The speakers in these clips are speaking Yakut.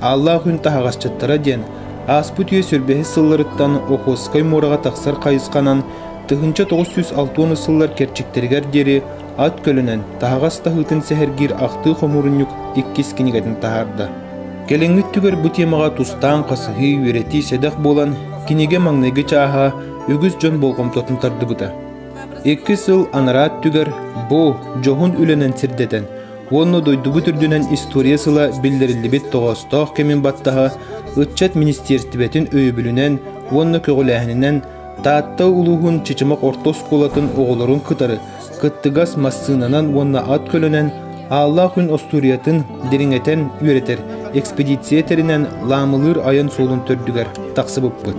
Ааллаах Үн таһаҕасчыттара диэн ааспыт үйэ сүрбэһис сылларыттан Охотскай муораҕа тахсар хайысханан тыһыынча тоҕус сүүс алта уон сыллар кэрчиктэригэр диэри ат көлөнөн таһаҕас таһыытын сэһэргиир ахтыы хомуурунньук иккис кинигэтин таһаарда. Кэлиҥҥи өттүгэр бу тиэмэҕэ тустаан хасыһыы, үөрэтии сэдэх буолан, кинигэ маҥнайгы чааһа үгүс дьон болҕомтотун тардыбыта. Икки сыл анараа өттүгэр бу дьоһун үлэнэн сирдэтэн, уонна дойдубут үрдүнэн история сыла биллэриллибит тоҕоостоох кэмин баттаһа ыччат министиэристибэтин өйөбүлүнэн уонна көҕүлээһининэн Таатта улууһун Чычымах орто оскуолатын оҕолорун кытары кыттыгас массыынанан уонна ат көлөнөн Ааллаах күн остуоруйатын дириҥэтэн үөрэтэр экспедиция тэринэн Лаамылыыр айан суолун төрдүгэр тахсыбыппыт.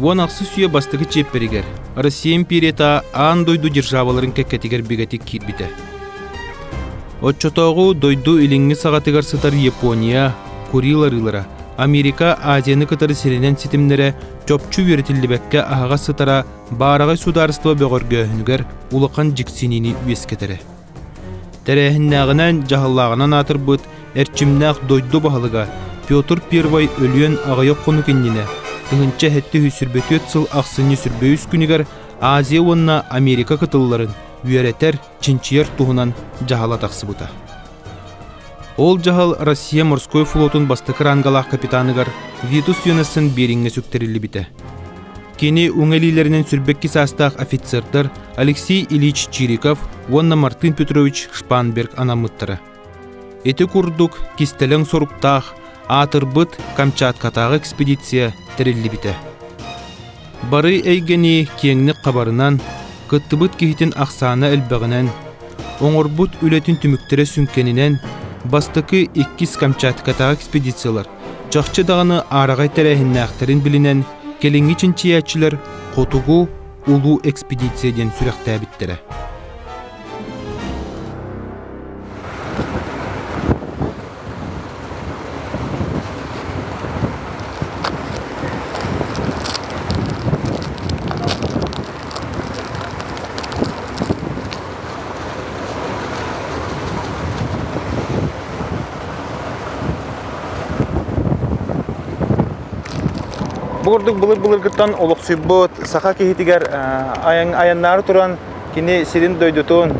Уон ахсыс үйэ бастакы чиэппэригэр Россия империята аан дойду державаларын кэккэтигэр бигэтик киирбитэ. Оччотооҕу дойду илиҥҥи саҕатыгар сытар Япония, Курил арыылара, Америка Азияны кытары сиринэн ситимнэрэ чопчу үөрэтиллибэккэ аһаҕас сытара баараҕай судаарыстыба бөҕөргөөһүнүгэр улахан дьиксиниини үөскэтэрэ. Тэрээһиннээҕинэн дьаһаллааҕынан аатырбыт эрчимнээх дойду баһылыга Петр I өлүөн аҕыйах хонук иннинэ тыһыынча сэттэ сүүс сүүрбэ түөрт сыл ахсынньы сүрбэ үс күнүгэр Азия уонна Америка кытылларын үөрэтэр, чинчийэр туһунан дьаһала тахсыбыта. Ол дьаһал Россия морской флотун бастакы рангалаах капитаныгар Витус Йонессон Бириҥҥэ сүктэриллибитэ. Кини үҥэлиилэринэн сүрбэкки саастаах офицердар Алексей Ильич Чириков уонна Мартын Петрович Шпанберг анаммыттара. Ити курдук кистэлэҥ соруктаах аатырбыт Камчаткатааҕы экспедиция тэриллибитэ. Бары эйгэни киэҥник хабарынан, кыттыбыт киһитин ахсаана элбэҕинэн, оҥорбут үлэтин түмүктэрэ сүҥкэнинэн бастакы иккис Камчаткатааҕы экспедициялар Чахчы даҕаны аараҕай тэрээһиннээхтэрин билинэн, кэлиҥҥи чинчийээччилэр Хотугу улуу экспедиция диэн сүрэхтээбиттэрэ. Бу ордук былыр-былыргыттан олохсуйбут саха киһитигэр айаннаары туран кини сирин-дойдутун,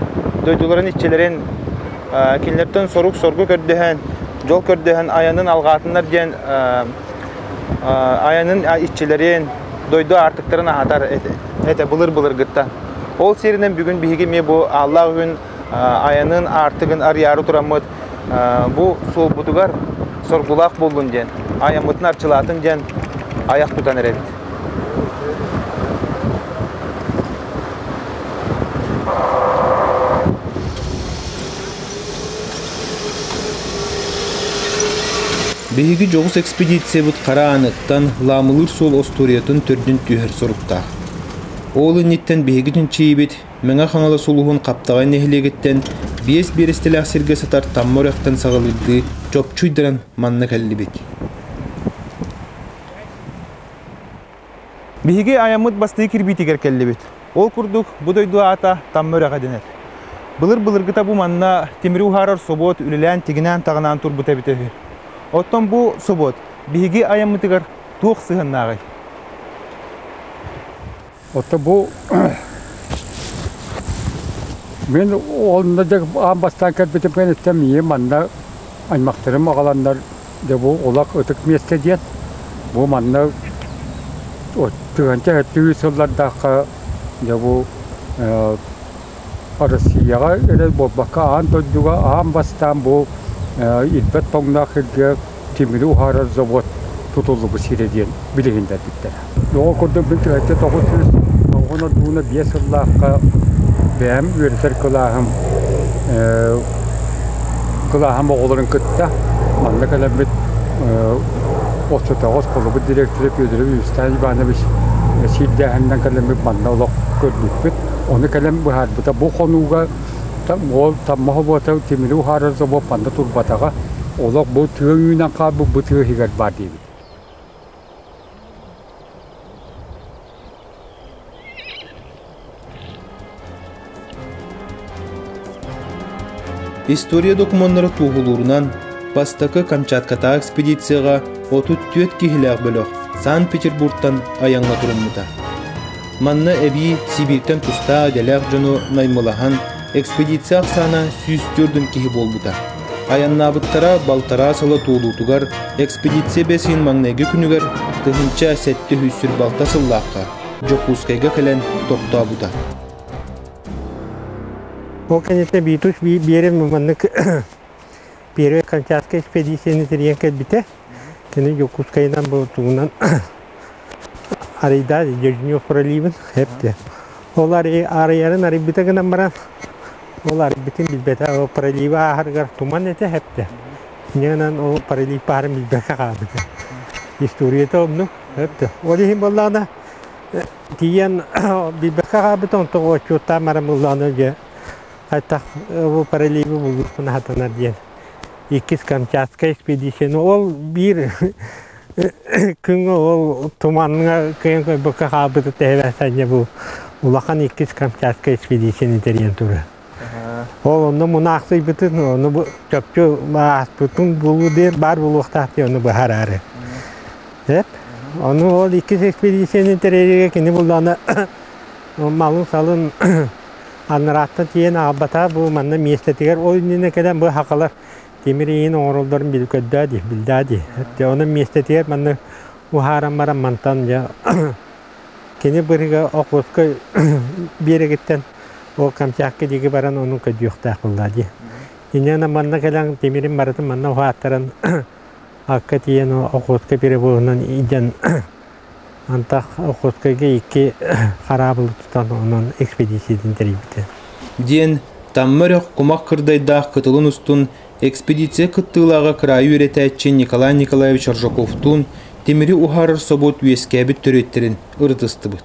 дойдуларын иччилэрин кинилэртэн сорук-соргу көрдөһөн, дьол көрдөһөн айанын алҕаатыннар диэн айанын иччилэрин, дойду аартыктарын аһатар этэ былыр-былыргыттан. Ол сиринэн бүгүн биһиги эмиэ бу Ааллаах Үһүн айанын аартыгын арыйаары тураммыт бу суолбутугар соргулаах буоллун диэн айаммытын арчылаатын диэн аяқ тутан эрэбит Биһиги дьоҕус экспедициябыт хара ааныттан Ламылыыр суол остуоруйатын төрдүн түһэр соруктаах. Ол инниттэн биһигитин чийибит Мэҥэ-Хаҥалас улууһун Хаптаҕай нэһилиэгиттэн биэс биэрэстэлээх сиргэ сытар Тамма үрэхтэн саҕалыырдыы чопчуйдаран манна кэллибит. Биһиги айаммыт бастыы кирбиитигэр кэллибит. Ол курдук, бу дойду аата Тамма үрэҕэ дэнэр. Былыр-былыргыта бу манна тимири уһаарар собуот үлэлээн тигинээн-таҕынаан турбута эбитэ үһү. Оттон бу собуот биһиги айаммытыгар туох сыһыаннааҕый? Ото бу мин онно дьэ аан бастаан кэлбитим кэнниттэн миигин манна аймахтарым аҕаланнар дьэ бу Улах ытык миэстэ диэн бу манна тыһыынча өлтүрүү сыллардаахха дьэ бу Россияҕа эрэл буолбакка, аан дойдуга аан бастаан бу ирбэт тоҥноох сиргэ тимири уһаарар завод тутуллубут сирэ диэн билиһиннэрбиттэрэ. Оҕо курдук мин түһэрдэ тоҕус сүүс оҕонор дууна биэс сыллаахха бэйэм үөрэтэр кылааһым кылааһым оҕолорун кытта манна кэлэммит отчуотоҕос холобур директора Федоров Евстань Иванович сирдээһининэн кэлэммит манна олох көрбүппүт. Ону кэлэн быһаарбыта бу хонууга уол таммаһа буота тимири уһаарар собо панда турбатаҕа олох бу тыа үүнэн хаалбыт бу тыа иһигэр баар диэбит. История докумуоннара туоһулуурунан бастакы Камчаткатаа экспедицияга 34 киһилээх бөлөх Санкт-Петербургтан айаҥҥа туруммута. Манна эбии Сибииртэн тустаах идэлээх дьону наймылаһан, экспедиция ахсаана сүүс төрдүн киһи буолбута. Айаннаабыттара балтараа сыла туолуутугар экспедиция бэсиин маҥнайгы күнүгэр тыһыынча сэттэ сүүс сүр балта сыллаахха Дьокуускайга кэлэн тохтообута. Ол кэнниттэн биитус биэрин маннык Первая Камчатская экспедицияны тэрийэн кэлбитэ. Кини Дьокуускайынан Болтугунан арыйда Дежнев проливын эпти. Ол арыйарын арыйбыта гынан баран ол арыйбытын билбэтэ ол проливы ааһарыгар туман этэ эпти. Ньынан ол пролив баарын билбэккэ хаалбыта. Историята онну эпти. Ол иһин боллаана тиийэн билбэккэ хаалбыта онтон отчуттаан марам ыллаана дьэ Хайтах бу паралиби булгуркун хатанар диэн иккис Камчатскай экспедиция. Ну, ол биир күҥҥэ ол туманҥа кыйан көрбөккө хаалбыта тэһэбэхтэнньэ бу улахан иккис Камчатскай экспедицияны тэрийэн турар. Ол онно мунаахсыйбытын, ону бу чопчу ааспытын булуу диэн баар булуохтаах диэн ону быһараары. Эп? Ону ол иккис экспедицияны тэрийэргэ кини буллаҕына малын-салын Анрааттан тиийэн аҕалбатаа бу манна миэстэтигэр ол иннинэ кэлэн бу хакалар тимир иин оҥороллорун билгдөө дии билдаа дии эттэ онон миэстэтигэр манна уһааран баран мантан дьэ кини быһыга Охотскай биэрэгиттэн ол Камчатка диэки баран онон көдьүөхтээх буоллаа дии иннинэ манна кэлэн тимирин барытын манна уһааттаран акка тиийэн Охотскай перевозунан илдьэн Антах Охотскайга икки хараабылы тутан онон экспедициятын тэрийбитэ. Диэн Тамма Өрөх кумах кырдайдаах кытылын устун экспедиция кыттыылааҕа кыраайы үөрэтээччи Николай Николаевич Ржаковтуун тимири уһаарар собуот үөскээбит төрүттэрин ырытыстыбыт.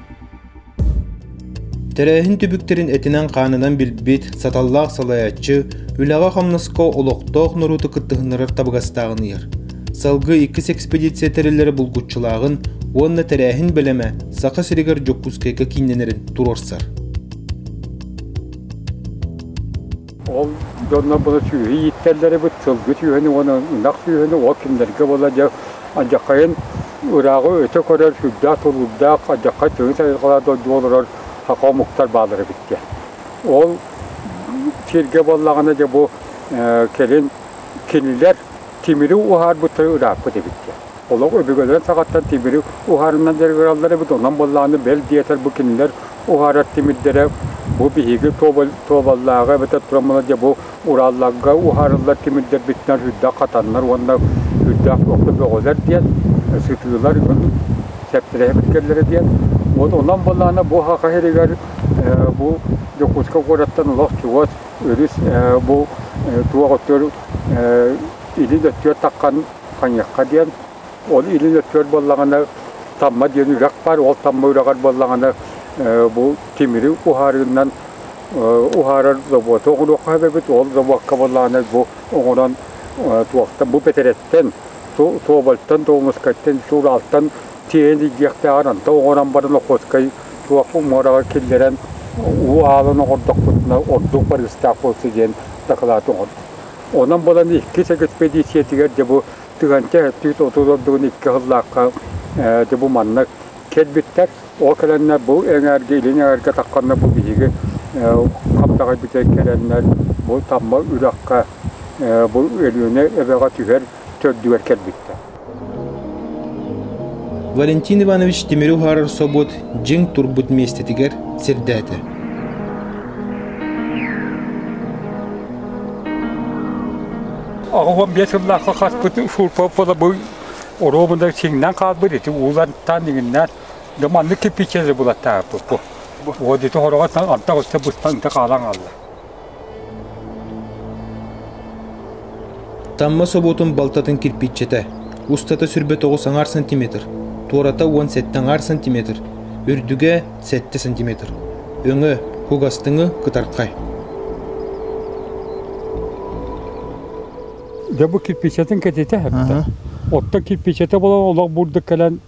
Тэрээһин түбүктэрин этинэн-хаанынан билбит, саталлаах салайааччы, үлэҕэ-хамнаска олохтоох норуоту кыттыһыннарар табыгастааҕын ыйар. Салгыы иккис экспедиция тэриллэрэ булгуччулааҕын уонна тэрээһин бэлэмэ Саха сиригэр Дьокуускайга кииннэнэрин туруорсар. Ол дьоннор сүүһү ииттэллэрибит, сылгы сүүһүнү уонна ынах сүүһүнү ол кинилэргэ буолла дьэ адьаххайын ырааҕы өтө көрөр сүрдээх тургурдаах адьаххай тыһы сайылҕалар дойду олорор хаха омуктар баалар эбит диэн. Ол сиргэ буоллаҕына дьэ бу кэлин кинилэр Тимири уһаарбыттары ырааппыт эбит диэн. Олох өбүгэлэрин саҕаттан тимири уһаарыннан дьарыгыраллар эбит, онон буоллаҕына бэл диэтэр бу кинилэр уһаарар тимирдэрэ бу биһиги туобаллааҕы эбэтэр тураммыла дьэ бу Уралларга уһаарыллар тимирдэрбитинэн үрдээх хатаннар уонна үрдээх бөҕөлөр диэн сытыылар сэптэрэһэбит кэллэрэ диэн. Вот онон буоллаҕына бу Саха сиригэр бу Дьокуускай куораттан олох чугас Өрүс бу туох өттөр илин өттүгэр таххан хайыахха диэн, ол илин өттүгэр буоллаҕына Тамма диэн үрэх баар, ол Тамма үрэҕэр буоллаҕына бу тимири уһаарыынан уһаарар заботы оҥоруохха сөп эбит, ол забокка буоллаҕына бу оҥорон туохтан бу бэтэрэттэн, туобальтан, туомускайтан, сууралтан тиэйэн илгиэхтээҕин антан оҥорон баран Охотскай туох муораҕа киллэрэн уу аалын оҥордохпутуна ордук барыыстаах буолсу диэн дакылаат оҥордум. Онон булан иккис экспедициятигэр дьэ бу Тыганча эттиит отут ордугун икки сыллаахха дьэ бу маннык кэлбиттэр. Ол кэлэннэр бу эҥээргэ, илин эҥээргэ тахханна бу биһиги хаппаҕай бүтэр кэлэннэр бу Тамма үрэххэ бу Өлүөнэ эбэҕэ түһэр төрдүгэр кэлбиттэр. Валентин Иванович тимири уһаарар собуот дьиҥ турбут миэстэтигэр сирдээтэ. Аҕам биэс сыллаахха хаспыт фурпоппола бу оруобунда сиҥнэн хаалбыт ити уулантан иҥиннээн да маннык киппичэли булаттааппыт бу. Вот ити хороҕо антах өссө быстан хаалан хаалла. Тамма собуотун балтатын кирпиччэтэ, устата сүрбэ тоҕус аҥаар сантиметр, туората уон сэттэ аҥаар сантиметр, үрдүгэ сэттэ сантиметр, өҥө, кугастыҥы кытархай. Дьэ бу кирпичэтин кэтитэ эттэ. Оттон кирпичэтэ болон олох бурдук кэлэн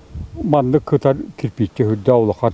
маннык кытар кирпиччэ үрдэ улахан.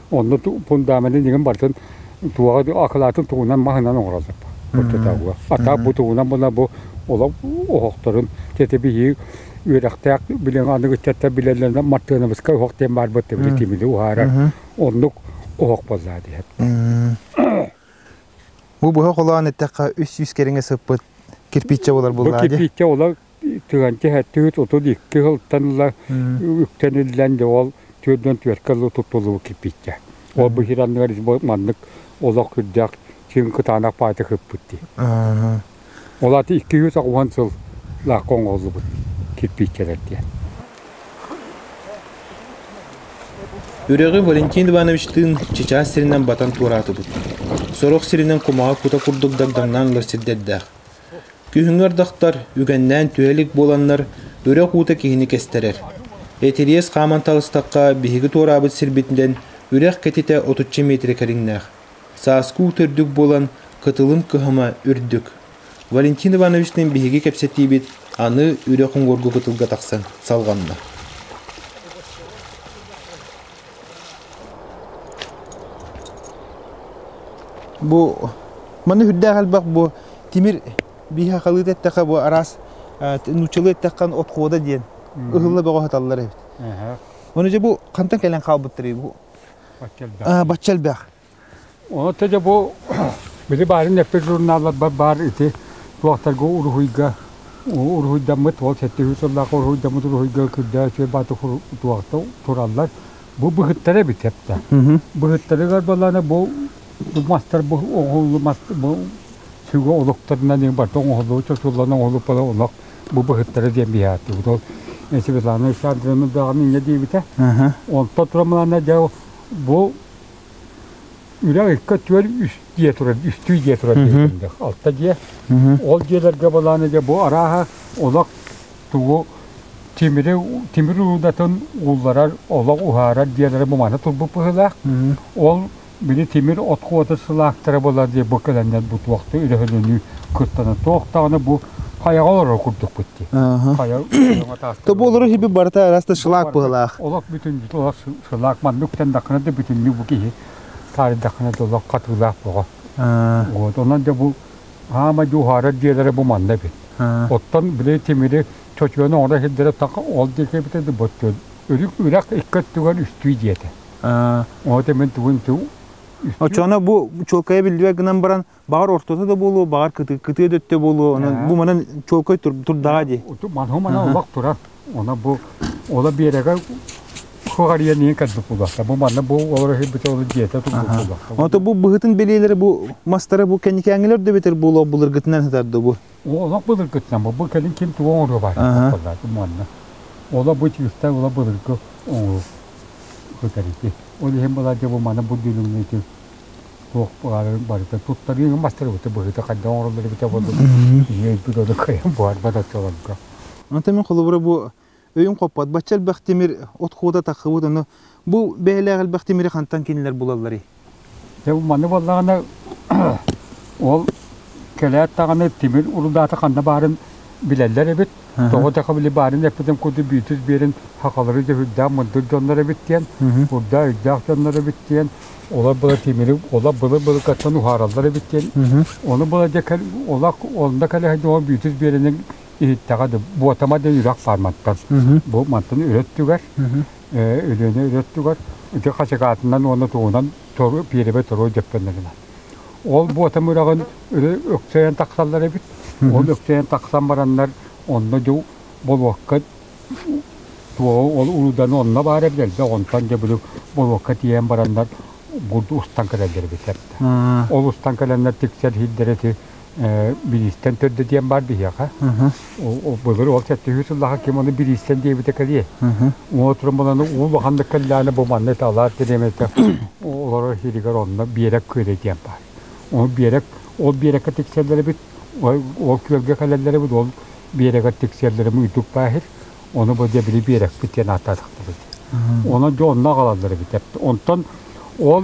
Онно фундаменты нигин бартын туоҕа акылаатын тугунан маһынан оҥороллор. Куртатауга. Атаа бу тугунан була бу олох оһохторун тетебиһи үөрэхтээх билен аныгыччатта билеллерне мартыанабыска оһох диэн барбыт тебили тимили уһаарар. Оннук оһох болла диһет. Бу быһа холаан эттэххэ үс сүүс кэриҥе сыппыт кирпиччэ болар булла. Кирпиччэ ола Тыганчы эттигит отут икки сылтан ыла үктэниллэн дьэ ол түөрдэн түөркэ ыла туттуллубу киппиттэ. Ол бу хиранныгар маннык олох үрдээх син кытаанах паайта кыппыт Ол ати икки жүз оҕуһан сыл лаакка оҥоһуллубут кирпииччэлэр диэн. Үрэҕи Валентин Ивановичтыын чычаас сиринэн батан туораатыбыт. Сорох сиринэн кумаҕа кута курдук дагдаҥнаан ылар сирдэрдээх. Күһүҥҥү ардахтар үгэннээн түһэ илик буоланнар, үрэх уута киһини кестэрэр. Этириэс хааман таҕыстахха, биһиги туораабыт сирбитинэн үрэх кэтитэ отучча миэтирэ кэриҥнээх. Сааскы уу төрдүк буолан, кытылын кыһама үрдүк. Валентин Ивановичтыын биһиги кэпсэтиибит аны үрэх уҥуоргу кытылга тахсан салҕанна Бу маны үрдээх элбэх бу тимир биһахалыы эттэхэ бу араас нууччалыы эттэххэ отхода диэн ыһылла бөҕө сыталлар эбит. Оны дьэ бу хантан кэлэн хаалбыттарый бу? Бачча элбэх. Бачча элбэх. Ону тэдэ бу били баарын эппит журналларбар баар ити туохтарга уруһуйга уруһуйдаммыт ол сэттиһүү сыллаах уруһуйдаммыт уруһуйга күрдээ үтүө баата туохта тураллар бу быһыттара эбит хэптэ. Быһыттарыгар балана бу мастар бу оҕолу мастар бу сүгэ олуктарынан иҥ барта оҥоһуллуу чочуллан оҥоһуллуппала олох бу быһыттара диэн биһааттыбыт. Ол Светлана Александровна даҕаны инньэ диэбитэ. Онтон турамалана дьэ бу үрэх икки түөл үс дьиэ турар, үстүү дьиэ турар диэтиллэх. Алта дьиэ. Ол дьиэлэргэ балааны дьэ бу арааһа олох тугу тимири тимир уудатын уулларар, олох уһаарар дьиэлэрэ бу маны турбут быһыылаах. Ол били тимир от куота сылаактара буолар диye бу кэлэннэр бу туохта үлэһилини кыттана туох даҕаны бу Хайаҕа олорор курдукпут дии. Хайа То буолар хиби барыта араас да шылаак быһылаах. Олох бүтүн олох шылаак маннык күтэннэххинэ да бүтүннүү бу киһи таарыйдаххына да олох хатыылаах боҕо. Вот онон да бу аама дьуһаара диэлэрэ бу манна бит. Оттон били тимири чочуону оҥоро хилдэрэ таха ол диэки битэ да бот үрэх икки өттүгэр үстүү диэтэ. От эмен тугун ту Очоно бу чуолкайа биллибэ гынан баран Баҕар ортото да буолуо, баҕар кытыы, кытыы да өттө буолуо, онон бу манан чуолкай турдаҕа дии. Манһу манан олох турар. Она бу ола биэрэгэ куҕарыйан иһин кэрдик булахта. Бу манна бу олор өһүйбүтэ олор дьиэтэ тумбук булахта. Ото бу быһытын билиэлэрэ бу мастара бу кэнникээҥилэр да бэтэр буолуо былыргытынан сытарда бу. Олох былыргытынан бу бу кэлин ким туга оҥоруо бар. Бу манна. Ола бу тиистэй ола былыргы оҥору. Көтәрити. Ол иһин былар бу манна бу дүлүҥнүтү Туох баҕарар барыта туттарыыга мастарыбыты быһыыта хайдах оҥороллор эбитэ курдук иһийбит ону кыайан буһарбат оччолорго. Ante мен холобура бу өйүн хоппот бачча элбэх тимир от куота таххыбыт ону бу бэйэлээх элбэх тимири хантан кинилэр булалларый? Дьэ бу манны буоллаҕына ол кэлээт даҕаны тимир урудаата ханна баарын билэллэр эбит. Тоҕо да хабылы баарын эппитим курдук Биитус биэрин хахалары дьөһүрдээх мындыр дьоннор эбит диэн, урдаа өйдөөх дьоннор эбит диэн, олор была тимири, олор былыр былыргаттан уһаараллар эбит диэн. Ону была дьэ олох онно кэлэһин ол Биитус биэринин иһиттэҕэ да буотама да үрэх фарматтан. Бу мантан үрөттүгэр, Өлүөнэ үрөттүгэр ити хачыгаатынан уонна тугунан пиэребэ торуо дьөппөннөрүнэ. Ол буотам үрэҕин өксөйөн тахсаллар эбит. Ол өксөйөн тахсан бараннар онно дьэ болуокка ол урудан онно баар эбит элбэх онтон дьэ били болуокка тиийэн бараннар устан кэлэллэр эбитэ. Ол устан кэлэннэр тиксэр иһирдэр эти бириистэн төрдө диэн баар биһиэхэ. Былыр ол сэттиһүү сыллаха ким ону бириистэн диэбитэ кэлиэ. Уон отуран буланы уу улаханнык кэллэҕинэ бу манна талаар тириэмэтэ олорор сиригэр онно биэрэк күөдэ диэн баар. Ол биэрэк ол биэрэккэ тиксэллэрибит ол күөлгэ кэлэллэрибит ол биэрэккэ тиксэллэрим үрдүк баахыр ону бу диэбили биэрэкпит диэн ааттаатахтар ити. Онон дьэ онно аҕалаллар эбит. Онтон ол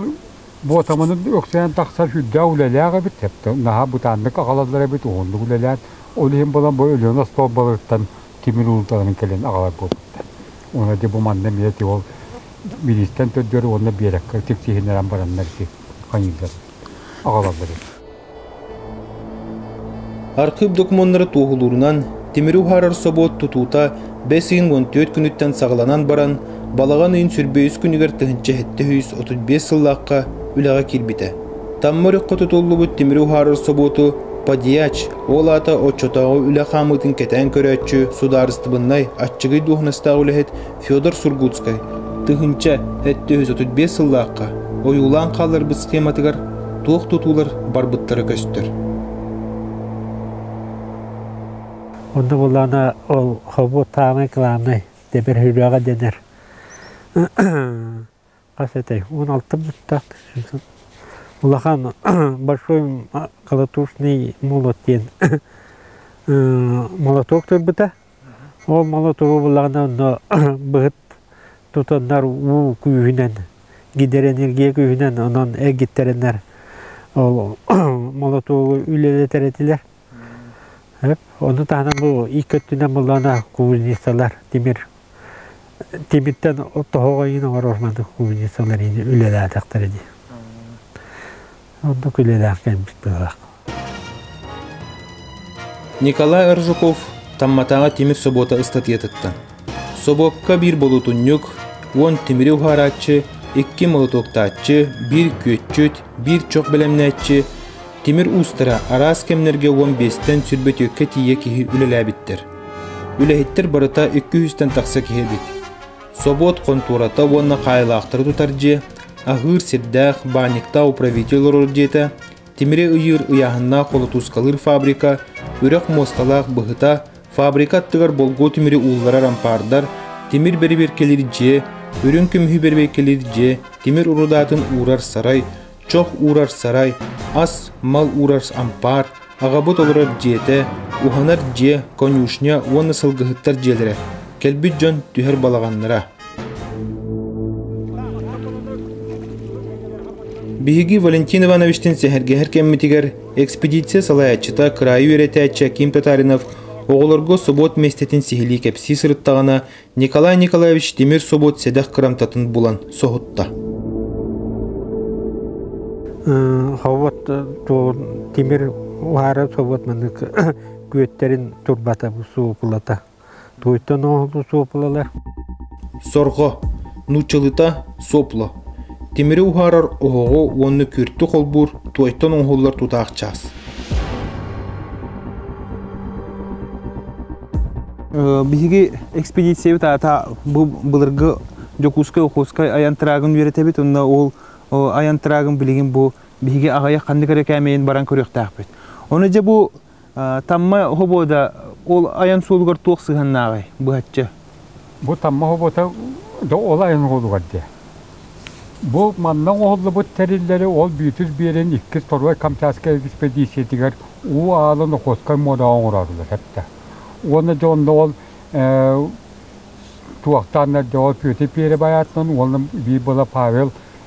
Буотаманы үксээн тахсар сүрдээх үлэлээх эбит. Наһаа бытааннык аҕалаллар эбит, уһуннук үлэлээн. Ол иһин булан бу Өлүөнэ остуолбаларыттан тимир уурууталарын кэлэн аҕалар буолбуттар. Уонна ити бу манна эмиэ ол миниистэн төрдүөр уонна биэрэккэ тиксиһиннэрэн бараннар ити ханьыылар аҕалаллар эбит. Архыып докумуоннары туоһулуурунан, тимири уһаарар собуот тутуута бэс ыйын уон түөрт күнүттэн саҕаланан баран, балаҕан ыйын сүрбэйиис күнүгэр тыһыынча сэттэ сүүс отут биэс сыллаахха үлэҕэ киирбитэ. Тамма өрүххэ тутуллубут тимири уһаарар собуоту Подьяч, ол аата оччотооҕу үлэ хаамыытын кэтээн көрөөччү судаарыстыбыннай аччыгый дуоһунастаах үлэһит Федор Сургутскай тыһыынча сэттэ үс отут биэс сыллаахха ойуулаан хааларбыт схематыгар туох тутуулар барбыттара көстөр. Онно буоллаҕына ол хобу таамай главнай дэбэр хүрээҕэ дэнэр. хас этэй, он алты бутта, улахан большой колотушный молот диэн молоток турбута. Ол молотогу булаҕына онно быһыт тутаннар уу күүһүнэн, гидроэнергия күүһүнэн онон эгиттэрэннэр ол молотогу үлэлэтэр этилэр. Ону таһынан бу икки өттүнэн буллаҕына кубинецалар тимир тимиртэн тоһоҕойун оҥорормону кубинецалар ини үлэлээтэхтэрэ дии. Оннук үлэлээх кэммит быһаах. Николай Аржуков Тамматааҕы тимир собуота ыстатыйатыттан Собуокка биир болуотунньук, уон тимири уһаарааччы, икки молотуоктааччы, биир күөччүт, биир чох бэлэмнээччи, тимир уустара араас кэмнэргэ уон биэстэн сүрбөтүөккэ тиийэ киһи үлэлээбиттэр. Үлэһиттэр барыта икки үһүстэн тахса киһи эбит. Собуот хонтуората уонна хаайылаахтары тутар дьиэ, аһыыр сирдээх, баанньыктаах управитель олорор дьиэтэ, тимири ыйыыр ыйааһыннаах холотуускалыыр фабрика, үрэх муосталаах быһыта, Фабрика аттыгар болгуо тимири уулларар ампаардар, тимир бэрибиэркэлиир дьиэ, үрүҥ көмүһү бэрибиэркэлиир дьиэ, тимир урудаатын уурар сарай, чох уурар сарай, ас, мал уурар ампаар, аҕабыт олорор дьиэтэ, уһанар дьиэ, конюшня уонна сылгыһыттар дьиэлэрэ. Кэлбит дьон түһэр балаҕаннара. Биһиги Валентин Ивановичтыын сэһэргэһэр кэммитигэр экспедиция салайааччыта, кыраайы үөрэтээччи Аким Татаринов оҕолорго собуот миэстэтин сиһилии кэпсии сырыттаҕына, Николай Николаевич тимир собуот сэдэх кырамтатын булан соһутта. Собуот тимир уһаара собуот маннык күөттэрин турбата бу суопулата. Туйтан оһолу суопулалар. Сорҕо, нууччалыта сопла. Тимири уһаарар оһоҕу уонна күртү холбуур туойтан оһоллор тутаах чаас. Биһиги экспедициябыт аата бу былыргы Дьокуускай Охуоскай айан тыраагын үөрэтэбит уонна ол айан тыраагын билигин бу биһиги аҕайы ханнык эрэ кээмэйин баран көрүөхтээхпит. Оны дьэ бу Тамма хобуода ол айан суолугар туох сыһаннааҕый быһаччы? Бу Тамма хобуота ол айан суолугар дия. Бу манна оҕоллубут тэриллэри ол бүөтүр биэрэн иккис Торой Камчатскай экспедициятыгар уу аалы Нохоскай муораҕа оҥороорулар хэтtä. Уонна дьэ онно ол туохтаан дьоҕо Петр Пиэри байаатынан уонна биир была Павел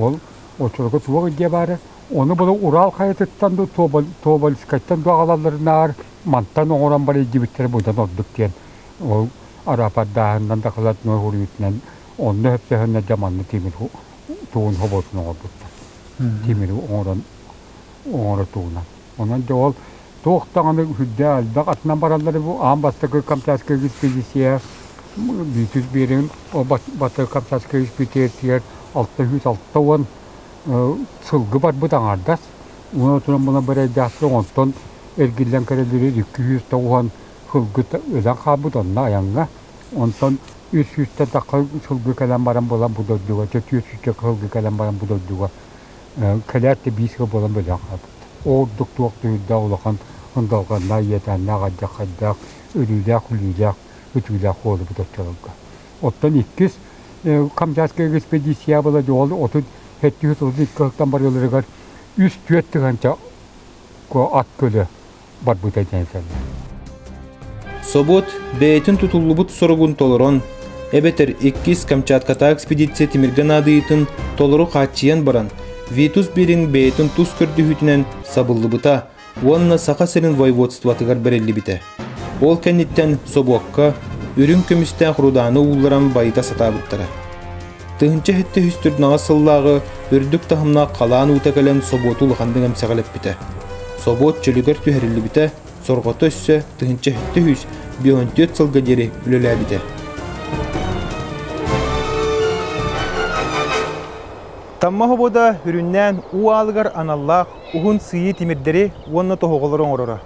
Ол очурга суох идиэ баара. Ону бары Урал хайатыттан да Тобольскайтан да аҕалалларынаар мантан оҥорон барыйдыбыттара будан ордук диэн ол араапардааһынынан да халатной уруйутунан онно өпсөһөннө да манны тимир тугун хоботун оҥорбуттар. Тимири оҥорон оҥоро тугунан. Онон дьэ ол туох даҕаны үрдээх элбэх атынан бараллар бу аан бастакы Камчатскай экспедиция бүтүс биэрин ол бастакы Камчатскай экспедициятыгар алта сүүс алта уон сылгы барбыт аҥаардас уонна туран була бэрэйдээх онтон эргиллэн көрөллөрө икки сүүс тоҕуһан сылгы өлөн хаалбыт онно айаҥҥа онтон үс сүүстэ тахха сылгы кэлэн баран буолан бу дойдуга түөрт сүүстэ сылгы кэлэн баран бу дойдуга кэлээт да биисикэ буолан бөлөҕүн аапыт. Ол ордук туох дүһүрдээх улахан ындалҕаннаах иэдээннээх алдьархайдаах өлүүлээх-күлүүлээх үтүүлээх уоллубут оччолорго. Оттон иккис Хамдьааскай экспедиция была дьоҕул отут сэттис отут икки алтан барыыларыгар үс-түөрт тыһыынча ат көлө барбыта диэн саныыбын. Собот бэйэтин тутуллубут соругун толорон, эбэтэр иккис Камчатката экспедиция тимиргэ наадыйытын толору хааччыйан баран, Витус Бирин бэйэтин тус көрдөһүүтүнэн сабыллыбыта уонна Саха сирин воеводствотыгар бэриллибитэ. Ол кэнниттэн собуокка үрүҥ көмүстээх рудааны уулларан байыта сатаабыттара. Тыһыынча сэттэ сүүс төрүттээх сыллааҕы үрдүк таһымнаах халаан уута кэлэн собуоту улаханнык эмсэҕэлэппитэ. Собуот чөлүгэр түһэриллибитэ, сорҕото өссө тыһыынча сэттэ сүүс биэһүнтүөт сылга диэри үлэлээбитэ. Тамма хобуода үрүннээн уу аалыгар аналлаах уһун сыйыы тимирдэри уонна тоһоҕолору оҥороро.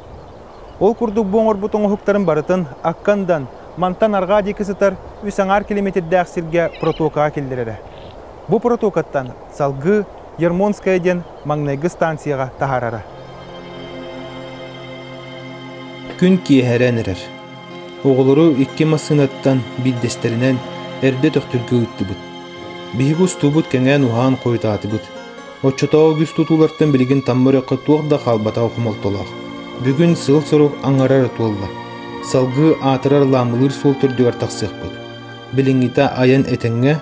Ол курдук бу оҥорбут оҥоһуктарын барытын Аккандан, мантан арҕаа диэки сытар үс аҥаар километрдээх сиргэ протокаҕа киллэрэрэ. Бу протокаттан салгыы Ермонская диэн маҥнайгы станцияҕа таһаарара. Күн киэһэрэн эрэр. Оҕолору икки массыынаттан биирдэстэринэн эрдэ төхтүргэ ыыттыбыт. Биһиги устуубут кэҥээн уһаан хойутаатыбыт. Оччотооҕу үгүс тутуулартан билигин Тамма өрүөххэ туох да хаалбатах хомолтолоох. Бүгүн сыл-сорук аҥарар туолла. Салгыы аатырар Ламылыыр суол төрдүгэр тахсыахпыт. Билиҥҥитэ айан этэҥҥэ,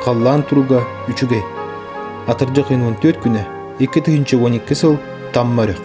халлаан туруга үчүгэй. Атырдьы 14 күнэ, 2 тыһыынча уон икки сыл Тамма өрүөх.